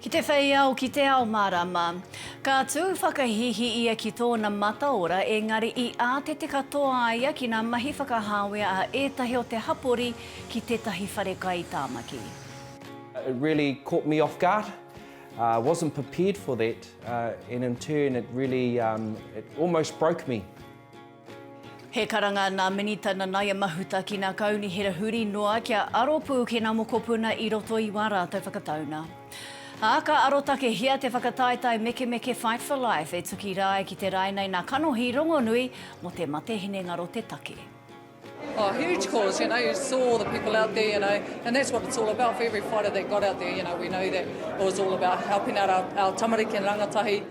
Ki te whei ao, ki te ao mārāma. Ka tū whakahīhī ia ki tōna mataora, engari i ātete katoa a ia ki ngā mahi whakahāwea a ētahi o te hapori ki tētahi wharekai Tāmaki. It really caught me off guard, I wasn't prepared for that and in turn it really, it almost broke me. He karanga nā Minita Nanaia Mahuta ki nā Kaunihera huri noa kia aro pū ki nā mokopuna i roto i wā rātou whakataunga. Ā, ka arotakehia te whakataetae mekemeke Fight for Life e tuki rā ai ki te rae nei nā kanohi rongonui mō te mate hinengaro te take. Oh huge cause you know you saw all the people out there you know and that's what it's all about for every fighter that got out there you know we know that it was all about helping out our our tamariki and rangatahi.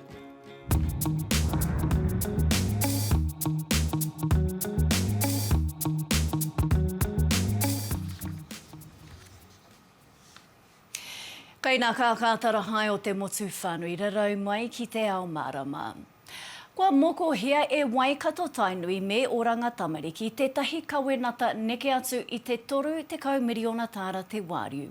Kei nā Kākātara hae o te motu whānui rarau mai ki te ao mārama. Kua mokohia e Waikato-Tainui me Oranga Tamariki tētahi kawenata neke atu i te 30 miriona tāra te wāriu.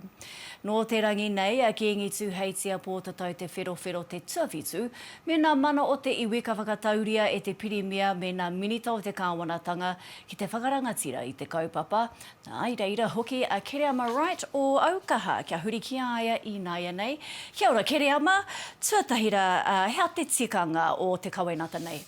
Nō te rangi nei a Kīngi Tūheitia Pōtatau Te Wherowhero te tuawhitu me nā mana o te iwi ka whakatauria e te Pirimia me nā Minita o te Kāwanatanga ki te whakarangatira i te kaupapa, ā, i reira hoki a Kereama Wright o Aukaha kia huri ki a ia ināianei. Kia ora Kereama, tuatahi rā, ā, hea te tikanga o te kawenata nei?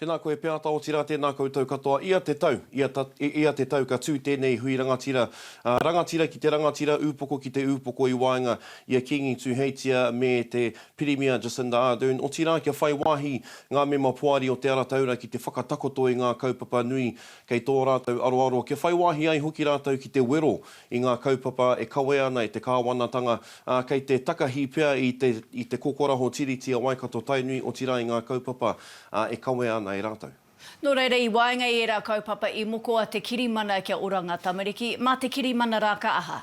Tēnā koe Peata, otirā tēnā koutou katoa. Ia te tau, ia ta, ia te tau ka tū tēnei hui rangatira, ā, rangatira ki te rangatira, ūpoko ki te ūpoko i waenga i a Kīngi Tūheitia me te Pirimia Jacinda Ardern, otirā kia whai wāhi ngā mema poari o Te Ara Taura ki te whakatakoto i ngā kaupapa nui kei tō rātou aroaro, kia whai wāhi ai hoki rātou ki te wero i ngā kaupapa e kawea ana e te kāwanatanga, ā, kei te takahi pea i te i te kokoraho Tiriti a Waikato-Tainui, otirā i ngā kaupapa, ā, e kawea ana e rātou. Nō reira, i waenga i ērā kaupapa i moko a te kirimana kia ora ngā tamariki, mā te kirimana rā ka aha?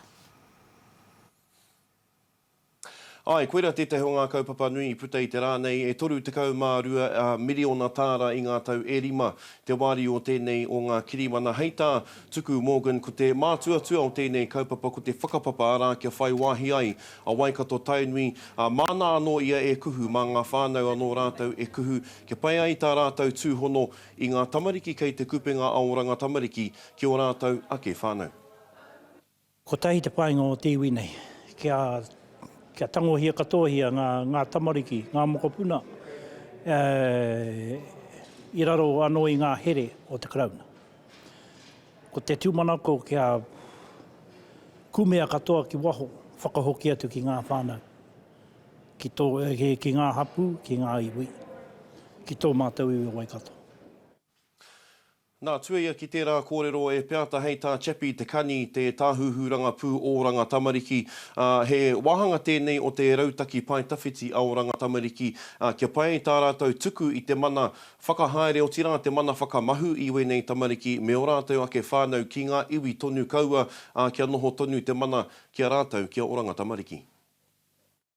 Āe, koirā tētahi o ngā kaupapa nui i puta i te rā nei, e 32 miriona tāra i ngā tau e rima te wāriu o tēnei o ngā kirimana. Hei tā Tuku Morgan, ko te mātuatua o tēnei kaupapa ko te whakapapa, arā, kia whai wāhi ai a Waikato Tainui, ā, māna anō ia e kuhu, mā ngā whānau anō rātou e kuhu, kia pai ai tā rātou tūhono i ngā tamariki kei Te Kupenga Aoranga Tamariki ki ō rātou ake whānau. Kotahi te painga o te iwi nei, kia, kia tangohia katoahia ngā, ngā tamariki, ngā mokopuna, e, i raro anō i ngā here o te Karauna. Ko te tūmanako kia kumea katoa ki waho, whakahoki atu ki ngā whānau, ki tō, ki ngā hapū, ki ngā iwi, ki tō mātou iwi o Waikato. Nā, tuaia ki tērā kōrero e Peata hei tā Chappie Te Kani, te Tāhuhu Rangapū Oranga Tamariki, ā, he wāhanga tēnei o te rautaki pae tawhiti a Oranga Tamariki, ā, kia pai tā rātou tuku i te mana whakahaere otirā te mana whakamahu i wēnei tamariki me ō rātou ake whānau ki ngā iwi tonu kaua, ā, kia noho tonu te mana ki a rātou, ki a Oranga Tamariki.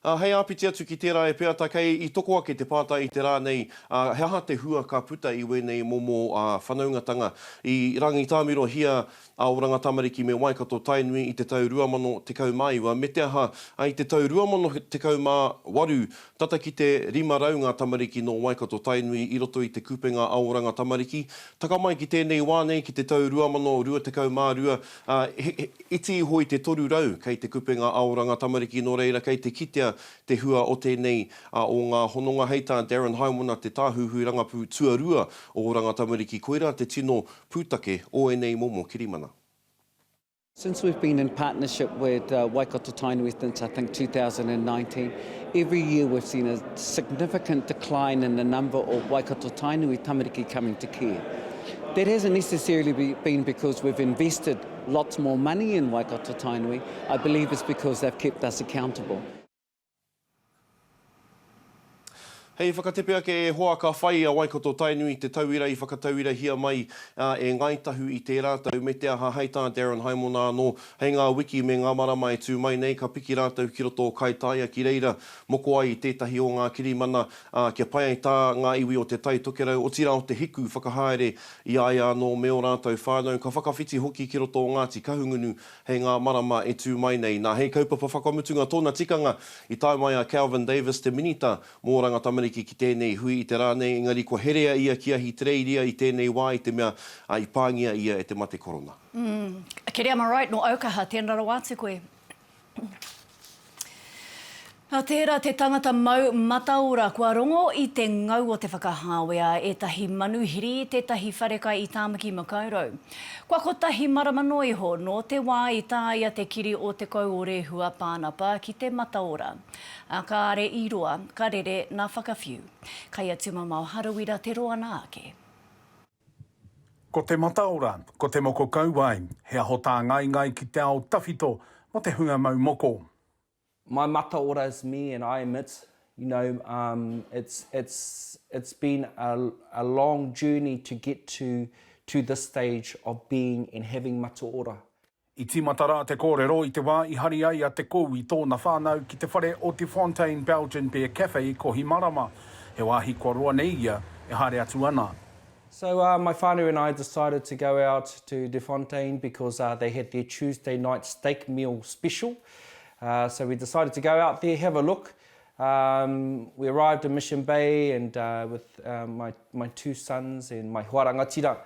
Ā, hei āpiti atu ki tērā e peata kei i toko ake te pātai i te rā nei, ā, he aha te hua ka puta i wēnei momo, ā, whanaungatanga? I Rangitāmirohia a Oranga Tamariki me Waikato Tainui i te tau 2019, me te aha, i te tau 2018, tata ki te 500 ngā tamariki nō Waikato Tainui i roto i te kupenga a Oranga Tamariki. Taka mai ki tēnei wā nei, ki te tau 2022, Ā, he iti iho i te toru rau kei te kupenga aoranga tamariki nō reira kei te kitea te hua o tēnei o ngā hononga hei tā Darren Haimona te Tāhuhu Rangapū Tuarua o Oranga Tamariki koirā te tino pūtake o ēnei momo kirimana. Since we've been in partnership with Waikato Tainui since I think 2019, every year we've seen a significant decline in the number of Waikato Tainui tamariki coming to care. That hasn't necessarily been because we've invested lots more money in Waikato Tainui, I believe it's because they've kept us accountable. Hei whakatepe ake e hoa ka whai a Waikato Tainui i te tauira i whakatauirahia mai e Ngāi Tahu i tērā tau me te aha hei tā Darren Haimona anō hei ngā wiki me ngā marama e tū mai nei ka piki rātou ki roto o Kaitaia ki reira moko ai i tētahi o ngā kirimana ā, kia pai ai tā ngā iwi o Te Tai Tokerau, otirā o Te Hiku, whakahaere i a ia anō me ō rātou whānau, ka whakawhiti hoki ki roto o Ngāti Kahungunu hei ngā marama e tū mai nei. Nā, hei kaupapa whakamutunga tōna tikanga, i tae mai a Kelvin Davis, te Minita mō Oranga Tamariki ki tēnei hui i te rā nei, engari kua herea ia ki Ahitereiria i tēnei wā i te mea i pāngia ia e te mate korona. Umm. Kiri, am I right, nō Aukaha, tēnā rawa atu koe? Nā tērā te tangata mau mataora kua rongo i te ngau o te whakahāwea a ētahi manuhiri i tētahi wharekai i Tāmaki Makaurau. Kua kotahi marama noa iho nō te wā i tāia te kiri o Te Kouorehua Pānapa ki te mataora. Ā, kāre i roa, ka rere nā Whakawhiu. Kai a Tumamao Harawira te roa nā ake. Ko te mataora, ko te moko kauae, he aho tāngaingai ki te ao tawhito mō te hunga mau moko. My mataora is me and I am it, you know, um, it's, it's, it's been a, a long journey to get to, to this stage of being and having mataora. I tīmata rā te kōrero i te wā i hari ai a Te Kou i tōna whānau ki te whare o Te Fontaine Belgian Beer Cafe i Kohimarama, he wāhi kua roa nei ia e haere atu ana. So my whānau and I decided to go out to De Fontaine because they had their Tuesday night steak meal special. So we decided to go out there, have a look. We arrived in Mission Bay and with my two sons and my hoa rangatira,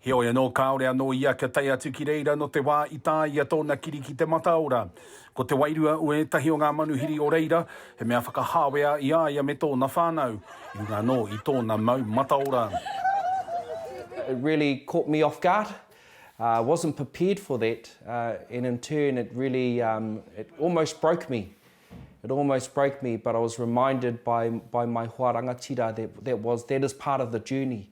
Heoi anō, kāore anō ia kia tae atu ki reira nō te wā i tāia tōna kiri ki te mataora. Ko te wairua o ētahi o ngā manuhiri o reira, he mea whakahāwea i a ia me tōna whānau, i runga anō i tōna mau mataora. It really caught me off guard, I wasn't prepared for that and in turn it really it almost broke me, it almost broke me but I was reminded by by my hoa rangatira that that was that is part of the journey.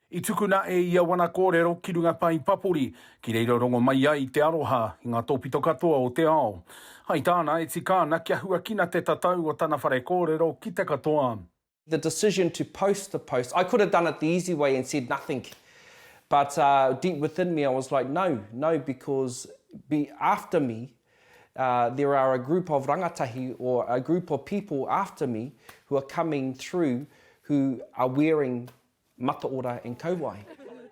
I tukuna e ia wana kōrero ki runga pae papori, ki reira rongo mai ai te aroha i ngā tōpito katoa o te ao. Hai tāna, e tika ana kia huakina te tatau o tana whare kōrero ki te katoa. The decision to post the post, I could have done it the easy way and said nothing, but deep within me I was like no, no because be after me there are a group of rangatahi or a group of people after me who are coming through who are wearing Mataora and Kauae.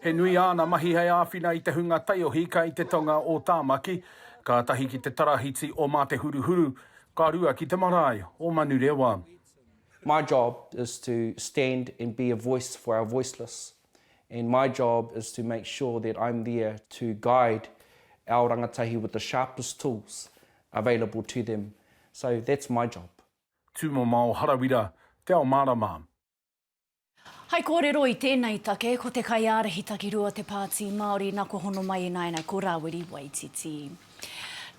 He nui āna mahi hei āwhina i te hunga taiohi kai te tonga o Tāmaki, kātahi ki te tarahiti o Mā Te Huruhuru, ka rua ki te marae o Manurewa. My job is to stand and be a voice for our voiceless and my job is to make sure that I'm there to guide our rangatahi with the sharpest tools available to them, so that's my job. Tūmomao Harawira, Te Ao Mārama. Hai kōrero i tēnei take, ko te kaiārahi takirua o te Pāti Māori nā kua hono mai i nāianei ko Rāwiri Waititi.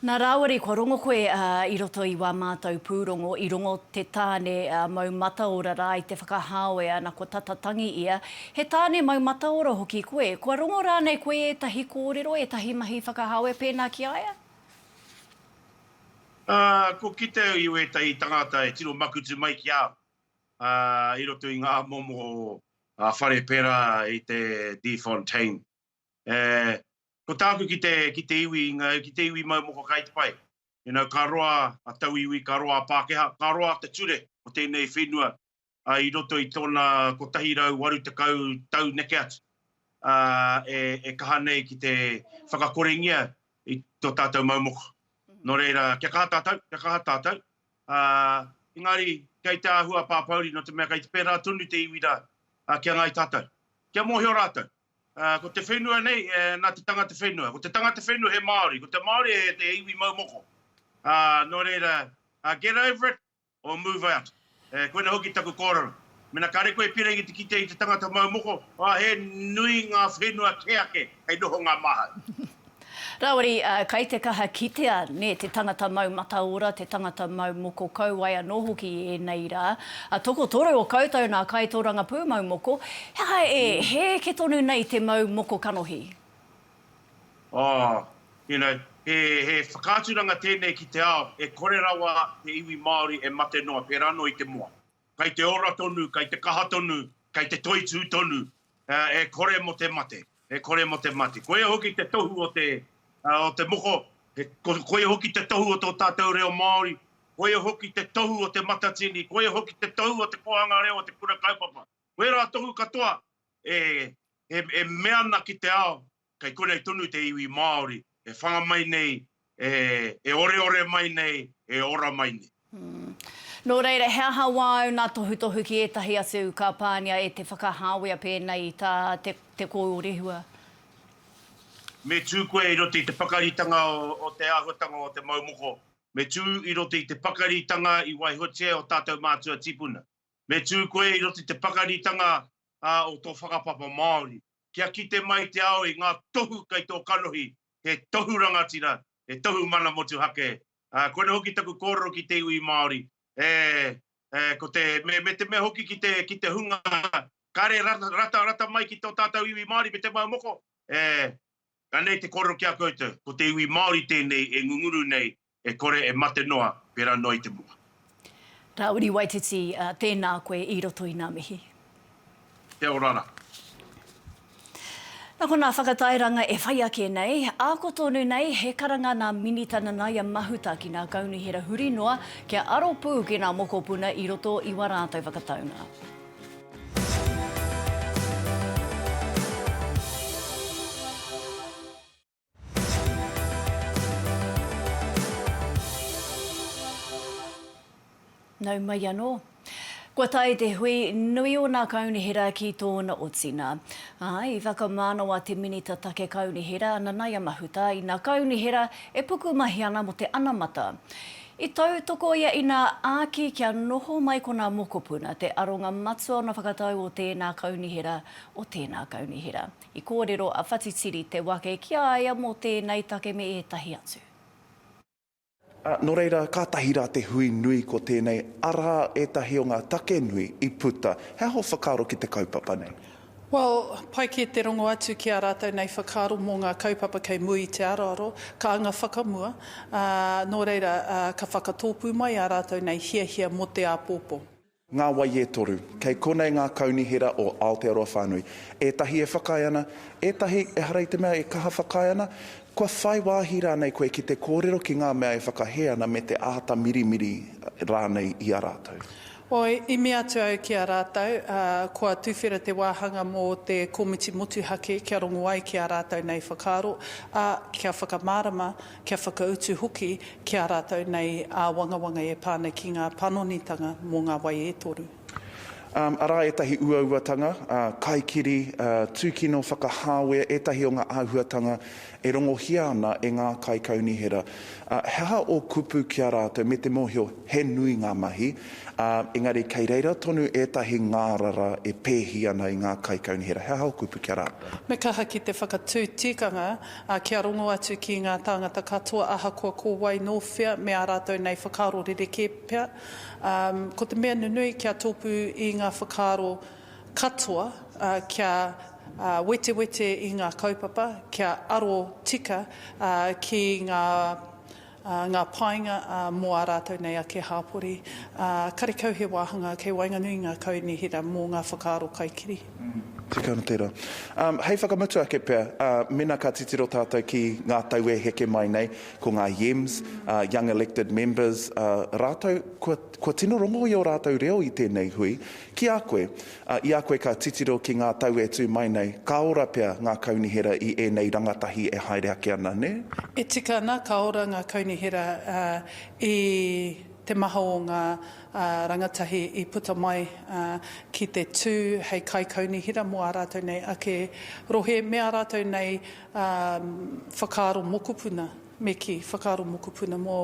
Nā Rāwiri kua rongo koe i roto i wā mātou pūrongo, i rongo te tāne mau mataora rā i te whakahāoe ana ko tata tangi ia, he tāne mau mataora hoki koe, kua rongo rānei koe ētahi kōrero, ētahi mahi whakahāoe pēnā ki a ia? Ā, kua kite au i wētahi tangata e tino makutu mai ki a au. i roto i ngā momo whare pērā i te De Fontaine. Ko tāku ki te iwi, ki te iwi mau moko kai te pai. You know, ka roa a tauiwi, ka roa a Pākehā, ka roa te ture o tēnei whenua i roto i tōna 180 tau neke atu e kaha nei ki te whakakorengia i tō tātou mau moko. Nō reira, kia kaha tātou, kia kaha tātou, ā, engari kei te āhua a Pāpouri nō te mea kei te pērā tonu te iwi rā, ā, kia ngāi tātou. Kia mōhio rātou, ā, ko te whenua nei, ā, nā te tangata whenua. Ko te tangata whenua he Māori, ko te Māori he iwi mau moko. Ā, nō reira, ā, get over it or move out. Ā, koina hoki taku kōrero. Mena kare koe pera ki te kite i te tangata mau moko, a he nui nga whenua ke ake hei noho nga mahau. Rawari, a, kai te kaha kitea ne te tangata mau mataora, te tangata mau moko kauae ano hoki i enei ra. A tokotoru o koutou na kai toranga pumau moko, he aha e heeke tonu nei te mau moko kanohi? A, you know, he, he whakaaturanga tenei ki te ao, e kore rawa te iwi Maori e mate noa pera ano i te moa. kei te ora tonu, kei te kaha tonu, kei te toitū tonu, e kore mo te mate, e kore mo te mate. Koia hoki te tohu o te, o te moko, koia hoki te tohu o tō tātou reo Māori, koia hoki te tohu o Te Matatini, koia hoki te tohu o te kōhanga reo o te kura kaupapa. Koia rā tohu katoa e mea ana ki te ao, Kei konei tonu te iwi Māori e whanga mai nei, e oreore mai nei, e ora mai nei. Nō reira, he aha wā ōna tohutohu ki ētahi atu ka pāngia e te whakahāwea pēnei i tā te kōrerehua? Me tū koe i roto i te pakaritanga o te āhuatanga o te mau moko. Me tū i roto i te pakaritanga i waihotia e ō tātou mātua tīpuna. Me tū koe i roto i te pakaritanga o tō whakapapa Māori. Kia kite mai te ao i ngā tohu kei tō kanohi, he tohu rangatira, he tohu mana motuhake. Ā, koinei hoki taku kōrero ki te iwi Māori, e, e, ko te, me, me te mea hoki ki te, ki te hunga, kāre ra, rata, rata mai ki tō tātou iwi Māori me te mau moko, e, anei te kōrero ki a koutou, ko te iwi Māori tēnei e ngunguru nei E kore e mate noa pera noa i te moa. Ra Uri Waititi, tēnā koe i roto i nā mihi. Te orara. Na konā whakatairanga e whai ake nei, ako tonu nei he karanga nā Minita Nanaia Mahuta ki nā Kaunihera huri noa kia aro pū ki nā mokopuna i roto i wa rātou whakataunga. Nau mai anō. Kua tae te hui nui o nā Kaunihera ki tōna otinga. Ā, i whakamānawa te Minita Take Kaunihera, Nanaia Mahuta, i nā Kaunihera e pukumahi ana mō te anamata. I tautoko ia inā āki kia noho mai ko nā mokopuna te aronga matua o nā whakatau o tēnā Kaunihera, o tēnā Kaunihera. I kōrero a Whatitiri te wake ki a ia mō tēnei take me ētahi atu. Ā, nō reira, kātahi rā te hui nui ko tēnei, arā ētahi o ngā take nui i puta. He aha ō whakaaro ki te kaupapa nei? Well, pai kē te rongo atu ki ā rātou nei whakaaro mō ngā kaupapa kei mua i te aroaro, ka anga whakamua, ā, nō reira, ā, ka whakatōpū mai ā rātou nei hiahia mō te āpōpō. Ngā wai e toru. Kei konei ngā kaunihera o Aotearoa whānui. Ētahi e whakaae ana, ētahi, ehara i te mea e kaha whakaae ana, kua whai wāhi rānei koe ki te kōrero ki ngā mea e whakahē ana me te āta mirimiri rānei i a rātou. Oi, i mea atu au ki a rātou, ā, kua tuwhera te wāhanga mō te komiti motuhake kia rongo ai ki ā rātou nei whakaaro, ā, kia whakamārama, kia whakautu hoki ki a rātou nei āwangawanga e pā ana ki ngā panonitanga mō ngā wai e toru. Arā ētahi uauatanga, kaikiri, tūkino, whakahāwea, ētahi o ngā āhuatanga e rongohia ana e ngā kaikaunihera. He aha ō kupu ki a rātou me te mōhio he nui ngā mahi, ā, engari kei reira tonu ētahi ngārara e pēhi ana i ngā kaikaunihera? He aha ō kupu ki a rātou? Me kaha ki te whakatū tikanga ā, kia rongo atu ki ngā tāngata katoa ahakoa ko wai nō whea me ā rātou nei whakaaro rerekē pea, ā, ko te mea nunui kia tōpū i ngā whakaaro katoa, ā, kia, ā, wetewete i ngā kaupapa, kia aro tika, ā, ki ngā. ngā painga mō ā rātou nei ake hāpori, ā, karekau he wāhanga kei waenganui i ngā kaunihera mō ngā whakaaro kaikiri. Tika ana tērā. Ā, hei whakamutu ake pea, ā, mēnā ka titiro tātou ki ngā tau e heke mai nei, ko ngā YEMs, ā, Young Elected Members, ā, rātou, kua, kua tino rongo i ō rātou reo i tēnei hui, ki a koe, Ā, i a koe ka titiro ki ngā tau e tū mai nei, ka ora pea ngā kaunihera i ēnei rangatahi e haere ake ana, nē? E tika ana, ka ora ngā kaunihera i te maha o ngā rangatahi i puta mai ki te tū hei kaikaunihera mō ā rātou nei ake rohe me ā rātou nei whakaaro mokopuna, me kī, whakaaro mokopuna mō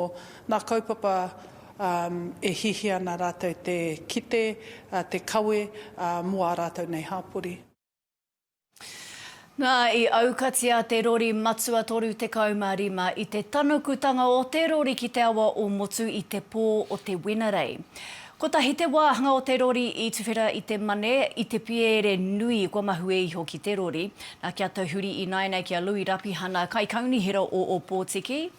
ngā kaupapa e hiahia ana rātou te kite, te kawe mō ā rātou nei hāpori. Nā, i aukatia te rori matua 35 i te tanukutanga o te rori ki te awa o Motu i te pō o te Wenerei. Kotahi te wāhanga o te rori i tuwhera i te mane, i te pierere nui kua mahue iho ki te rori. Nā, kia tauhuri ināianei ki a Lui Rapihana, Kaikaunihera o Ōpōtiki,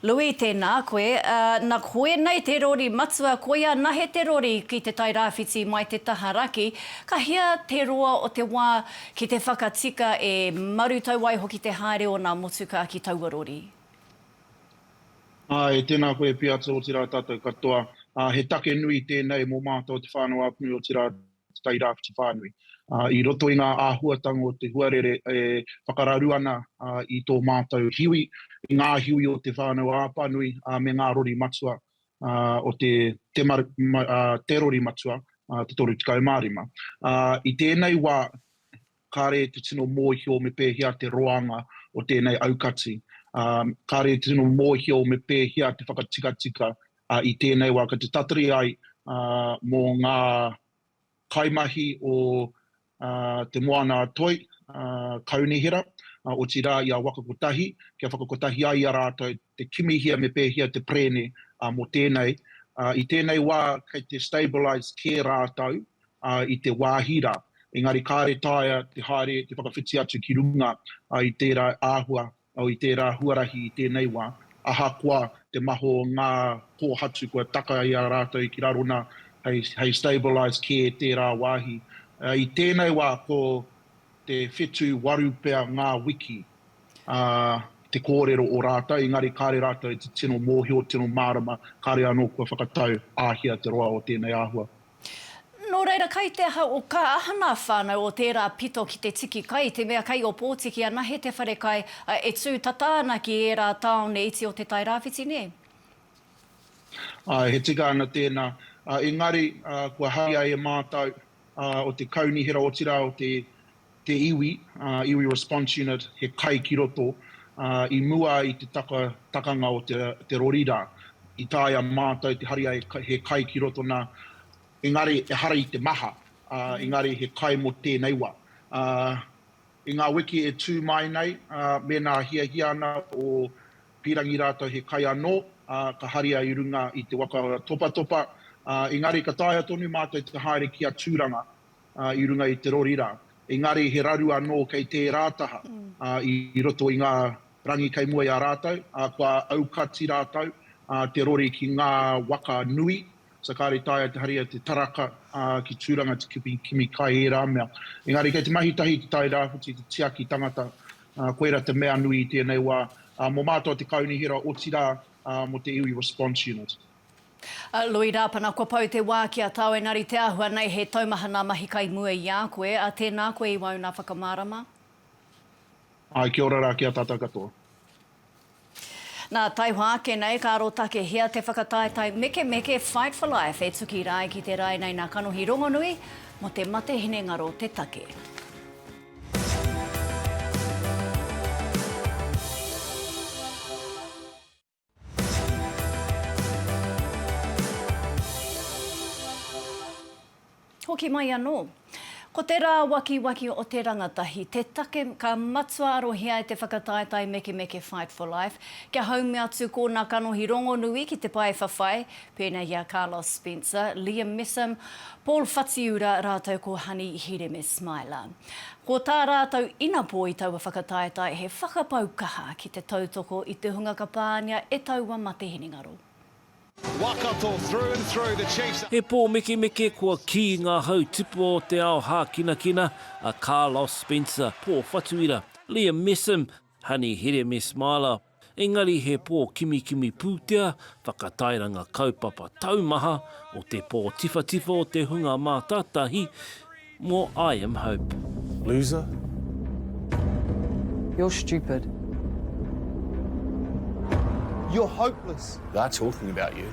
Lui, Tēnā koe. Na koinei te rori matua, koia nahe te rori ki Te Tai Rāwhiti mai te taha raki, ka hia te roa o te wā ki te whakatika e marutau ai hoki te haere o nā motukā ki taua rori. Āe, tēnā koe pea atu, otirā tātou katoa. He take nui tēnei mō mātou te whānau Apni, otirā Tairāwhiti whānui. I roto i ngā āhuatanga o te huarere e whakararu ana i tō mātou hiwi, i ngā hiwi o Te Whānau-a-Apanui me ngā rori matua o te Te Rori Matua te 35. I tēnei wā, kāre te tino mōhio me pēhea te roanga o tēnei aukati, ā, kāre te tino mōhio me pēhea te whakatikatika, ā, i tēnei wā, kei te tatari ai, ā, mō ngā kaimahi o, ā, Te Moana-a-Toi, ā, Kaunihera, ā, otirā i a Waka Kotahi, kia whakakotahi ai i a rātou te kimihia me pēhea te perēne, ā, mō tēnei. Ā, i tēnei wā, kei te stabilise kē rātou, i te wāhi rā, engari kāre taea te haere, te whakawhiti atu ki runga i tērā āhua, i tērā huarahi i tēnei wā, ahakoa te maho o ngā kōhatu kua taka i a rātou ki raro nā, hei stabilised care tērā wāhi. I tēnei wā ko te whetū waru pea ngā wiki te kōrero o rātou, engari kāre rātou te tino mōhio, tino mārama, kāre anō kua whakatau āhea te roa o tēnei āhua. Nō reira, kai te aha o kā hana whānau o tērā pito ki te tiki kai, te mea kai opōtiki anahe te wharekai, ā, e tū tata ana ki ērā tāone iti o Te Tai Rāwhiti, nē? Āe, he tika ana tēnā. Engari, kua haria e mātau, o te Kaunihera, otirā, o te te iwi, iwi response unit, he kai ki roto, i mua i te takanga o te rori ra, i taea mātou te hari ai he kai ki roto na, engari ehara i te maha, engari he kai mo tēnei wa. I nga wiki e tu mai nei, mēnā hiahia ana o Pirangi ratou he kai anō, ka haria i runga i te waka o Topatopa, engari ka taea tonu mātou te haere ki a Turanga, i runga i te rori rā. Engari he raru anō kei tērā taha i roto i ngā rangi kei mua i a rātou, ā, kua aukati rātou te rori ki ngā waka nui, so kāore i taea te haria te taraka ki Tūranga te kupi kimi kai ērā mea. Engari kei te mahi tahi te Tai Rāwhiti te tiaki tangata, koira te mea nui i tēnei wā mō mātou te Kaunihera otirā mō te iwi Response Unit. Lui Rapana, Kua pau te wā ki a tāu engari te āhua nei he taumaha nā mahi kai mua i a koe. Tēnā koe i wauna whakamārama. Āe, kia ora rā ki a tātou katoa. Nā, taihoa ake nei, ka arotakehia te whakataetae mekemeke Fight for Life e tuki rā ai ki te rae nei nā kanohi rongonui mō te mate hinengaro te take. Hoki mai anō. Ko te rāwakiwaki o te rangatahi te take ka matua arohia e te whakataetae Mekemeke Fight for Life kia haumi atu kōna kanohi rongonui ki te paewhawhai, pēnei i a Carlos Spencer, Liam Messam, Paul Whatiura rātou ko Hani Hireme Smiler. Ko tā rātou inapō i taua whakataetae he whakapau kaha ki te tautoko i te hunga ka pāngia e taua mate hinengaro. He pōmekemeke kua kī ngā hau tipua o te ao hākinakina a Carlos Spencer, Paul Whatuira, Liam Messam, Honey Hireme Smiler, engari he pō kimikimi pūtea, whakatairanga kaupapa taumaha o te pō tiwhatiwha o te hunga mātātahi mō I am Hope. Loser? You're stupid. You're hopeless. They're talking about you.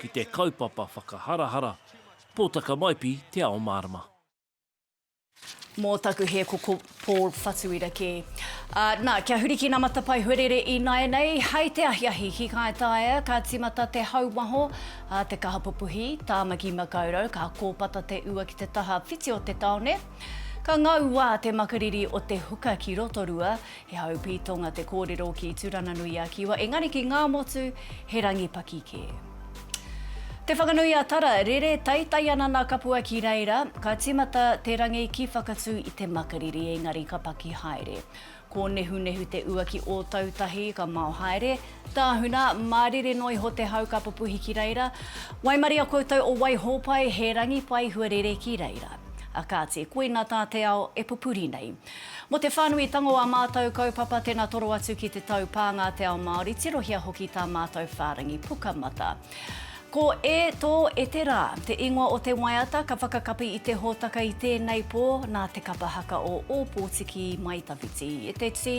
ki te kaupapa whakaharahara, Pōtaka Maipi Te Ao Mārama. Mō taku hē ko Paul Whatuira kē. Ā, nā, kia huri ki ngā matapae huarere ināianei, hai te ahiahi ki ngāi taea, ka tīmata te hau waho, ā, te kaha pupuhi, Tāmaki Makaurau, ka kōpata te ua ki te taha whiti o te taone. Ka ngau wā te makariri o te huka ki Rotorua, He haupī tonga te kōrero ki Tūranganui-a-Kiwa, engari ki Ngāmotu, he rangi paki kē. Te Whakanui-a-Tara, rere taitai ana nā Kapua ki reira, ka tīmata te rangi ki Whakatū i te makariri, engari ka paki haere. Kōnehunehu te ua ki Ōtautahi, ka mao haere. Tāhuna, mārire noa iho te hau ka pupuhi ki reira. Waimaria koutou o Waihōpai, he rangi pai hua rere ki reira. A kāti, koina tā te ao e pupuri nei. Mo te whanui tango a mātou kaupapa tena toro atu ki te taupānga te ao Māori tirohia hoki tā mātou whārangi Pukamata. Ko E tō e te rā, te ingoa o te waiata ka whakakapi i te hōtaka i tēnei pō nā te kapa haka o Ōpōtiki i Maitawhiti. E te tī,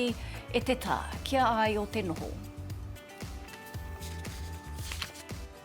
e te tā, ki a ai o te noho.